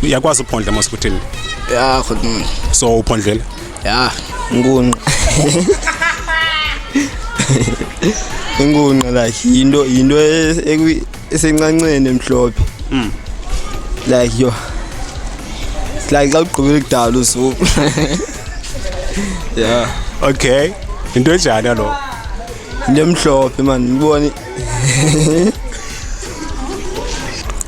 uyakwazi uphondla mos kuthini ya khona so uphondlela ya nkunqa inkunqa like yinto yinto e-, esencanceni emhlophe mm. like yo like xa ugqibile kudala usuku ya okay into enjani lo into emhlophe mani ngibone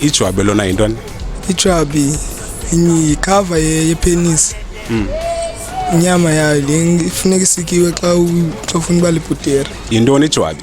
ijwabi lona yintoni ijwabi yikhava yepenisi hmm. inyama yayo le ifuneka isikiwe xa ufuna uba libhudere yintoni ijwabi